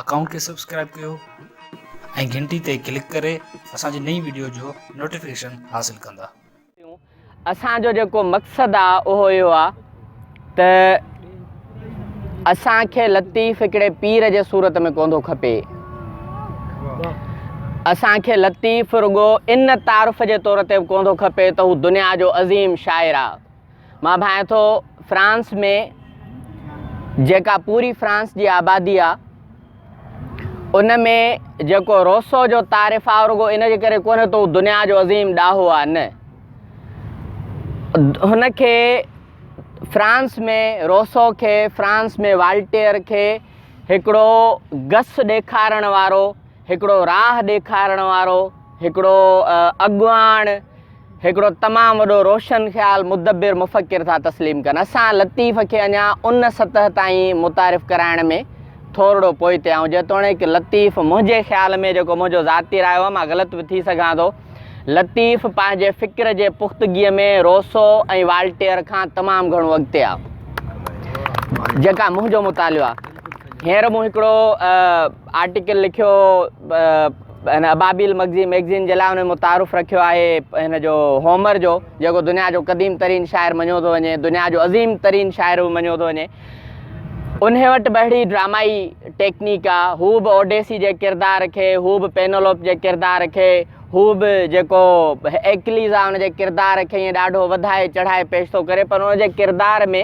Account کي subscribe ڪيو ۽ گهنٽي تي ڪلڪ ڪري اسان جي نئين ويڊيو جو نوٽيفڪيشن حاصل ڪندا. اسان جو جيڪو مقصد آ اهو اهو آ ته اسان کي لطيف هڪڙي پير جي صورت ۾ ڪونڌو کپي اسان کي لطيف رڳو ان تعارف جي طور تي به ڪونڌو کپي ته هو دنيا جو عظيم شاعر آ. مان ڀانئين ٿو فرانس ۾ جيڪا پوري فرانس جي آبادي آ ان ۾ جيڪو روسو جو تعارف آ رڳو ان جي ڪري ڪونه تو دنيا جو عظيم ڏاهو آ نه هن کي فرانس ۾ روسو کي فرانس ۾ والٽيئر کي هڪڙو گس ڏيکارڻ وارو هڪڙو راهه ڏيکارڻ وارو، هڪڙو اڳواڻ، هڪڙو تمام وڏو روشن خيال، مدبر، مفڪر ٿا تسليم ڪن. اسان لطيف کي اڃا ان سطح تائين متعارف ڪرائڻ ۾ ٿورڙو پوئتي آهيون. جيتوڻيڪ لطيف منهنجي خيال ۾ جيڪو منهنجو ذاتي رايو آهي، مان غلط به ٿي سگهان ٿو، لطيف پنهنجي فڪر جي پختگيء ۾ روسو ۽ والٽيئر کان تمام گهڻو اڳتي آهي. جيڪا منهنجو مطالعو آهي. هينئر مون هڪڙو آرٽيڪل لکيو هن ابابيل مگزين ميگزين جي لاء هن مون تعارف رکيو آهي هن جو هومر جو جيڪو دنيا جو قديم ترين شاعر مڃيو ٿو وڃي دنيا جو عظيم ترين شاعر به مڃيو ٿو وڃي انهي وٽ به اهڙي ڊرامائي ٽيڪنيڪ آ هو به اوڊيسي جي ڪردار کي هو به پينولوپ جي ڪردار کي هو به جيڪو ايڪليز آ ان جي ڪردار کي ائين ڏاڍو وڌائي چڙهائي پيش ٿو ڪري پر ان جي ڪردار ۾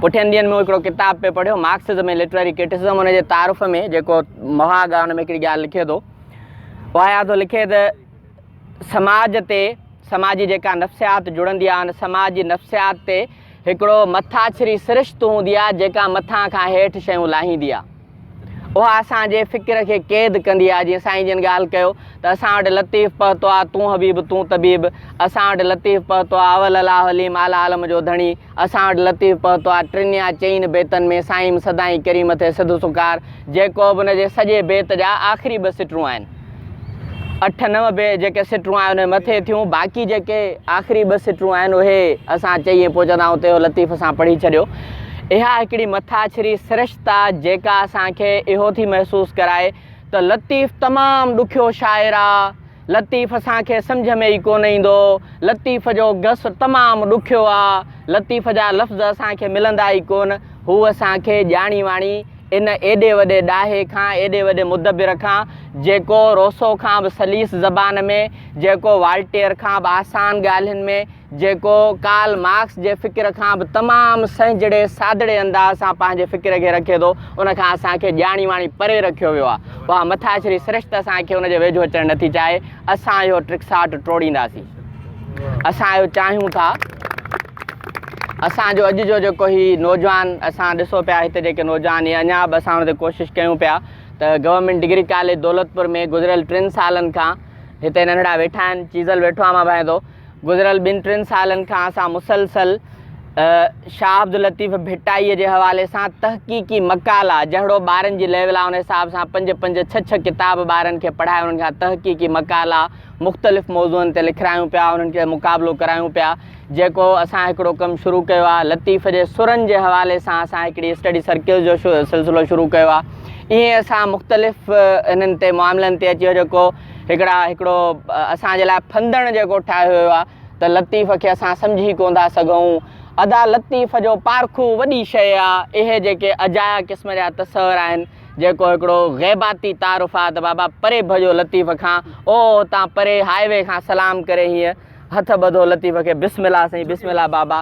پٺين ڏينهن ۾ هڪڙو ڪتاب پئي پڙهيو مارڪسزم ۽ لٽرري ڪرٽسزم ان جي تعارف ۾ جيڪو مهاڳ آهي ان ۾ هڪڙي ڳالهه لکي ٿو واهيا ٿو لکي ته سماج تي سماج جي جيڪا نفسيات جڙندي آهي ان سماج جي نفسيات تي هڪڙو مٿاڇري سرشت هوندي آهي جيڪا مٿان کان هيٺ شيون لاهيندي آهي اها اسان جي فڪر کي قيد ڪندي آهي، جيئن سائين جن ڳالهه ڪيو ته اسان وٽ لطيف پهتو آ، تون حبيب تون طبيب، اسان وٽ لطيف پهتو آ، اول الاهه عليم اعليٰ عالم جو ڌڻي، اسان وٽ لطيف پهتو آ، ٽن يا چئين بيتن ۾ سائين سدائين ڪريم ٿئي سڌ سڪار، جيڪو به ان جي سڄي بيت جا آخري ٻه سٽرون آهن. اٺ نو به جيڪي سٽون آهن انهي مٿي ٿيون باقي جيڪي آخري ٻه سٽون آهن اهي اسان چئي ۽ پهچندا آهيون ته لطيف سان پڙهي ڇڏيو اها هڪڙي مٿاڇري سرشتا جيڪا اسان کي اهو ٿي محسوس ڪرائي ته لطيف تمام ڏکيو شاعر آ لطيف اسان کي سمجھ ۾ ئي ڪونه ايندو لطيف جو گس تمام ڏکيو آ لطيف جا لفظ اسان کي ملندا ئي ڪون هو اسان کي ڄاڻي واڻي ان ايڏي وڏي ڏاهي کان، ايڏي وڏي مدبر کان، جيڪو روسو کان به سليس زبان ۾، جيڪو والٽيئر کان به آسان ڳالهين ۾، جيڪو ڪارل مارڪس جي فڪر کان به تمام سهجڙي سادڙي انداز سان پنهنجي فڪر کي رکي ٿو، ان کان اسان کي ڄاڻي واڻي پري رکيو ويو آهي. اها مٿاڇري سرشت اسان کي ان جي ويجهو اچڻ نٿي چاهي. اسان اهو ٽرڪساٽ ٽوڙينداسين. اسان اهو چاهيون ٿا. اسان جو اڄ جو جيڪو هي نوجوان اسان ڏسو پيا هتي جيڪي نوجوان هي اڃا به اسان هتي ڪوشش ڪيون پيا ته گورنمينٽ ڊگري ڪاليج دولتپور ۾ گذريل ٽن سالن کان هتي ننڍڙا ويٺا آهن چيزل ويٺو آهي مان ڀائندو گذريل ٻن ٽن سالن کان اسان مسلسل شاهه عبداللطيف ڀٽائي جي حوالي سان تحقيقي مقالا جهڙو ٻارن جي ليول آهي ان حساب سان پنج پنج ڇهه ڇهه ڪتاب ٻارن کي پڙهائي انهن کان تحقيقي مقالا مختلف موضوعن تي لکرايون پيا انهن کي مقابلو ڪرايون پيا جيڪو اسان هڪڙو ڪم شروع ڪيو آهي لطيف جي سرن جي حوالي سان اسان هڪڙي اسٽڊي سرڪلز جو سلسلو شروع ڪيو آهي ائين اسان مختلف انهن تي معاملن تي اچي جيڪو هڪڙا هڪڙو اسان جي لاء ڦندڻ جيڪو ٺاهيو ويو آهي ته لطيف کي اسان سمجهي ڪون ٿا سگهون ادا لطيف جو پارکو وڏي شيء آهي اهي جيڪي اجايا قسم جا تصور آهن جيڪو هڪڙو غيباتي تعارف آهي ته بابا پري ڀڄو لطيف کان او تان پري هاء وي کان سلام ڪري هيئن هٿ ٻڌو لطيف کي بسم الله سائين بسم الله بابا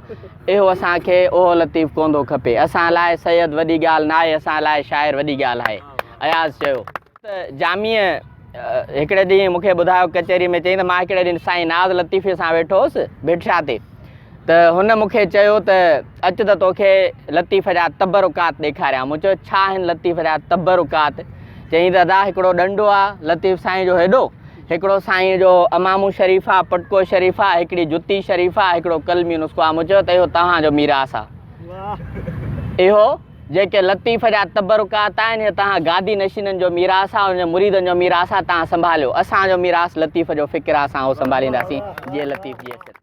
اهو اسان کي اهو لطيف ڪوندو کپي اسان لاء سيد وڏي ڳالهه ناهي اسان لاء شاعر وڏي ڳالهه آهي اياز چيو ته جاميء هڪڙي ڏينهن مونکي ٻڌايو ڪچهري ۾ چئي ته مان هڪڙي ڏينهن سائين ناز لطيفي سان ويٺو هوس بيٺشا تي ته هن مونکي چيو ته اچ ته توکي لطيف جا تبرڪات ڏيکاريان مون چيو ڇا آهن لطيف جا تبرڪات چئي ته ادا هڪڙو ڏنڊو آهي لطيف سائين جو هيڏو هڪڙو سائينء جو امامون شريف آ، پٽڪو شريف آ، هڪڙي جتي شريف آ، هڪڙو قلمي نسخو آ، مون چيو ته اهو توهان جو ميراث آ. اهو، جيڪي لطيف جا تبرڪات آهن، اهي توهان گادي نشينن جو ميراث آ، انهن جي مريدن جو ميراث آ، توهان سنڀاليو. اسان جو ميراث لطيف جو فڪر آ، اسان اهو سنڀالينداسين، جيئي لطيف جيئي سر.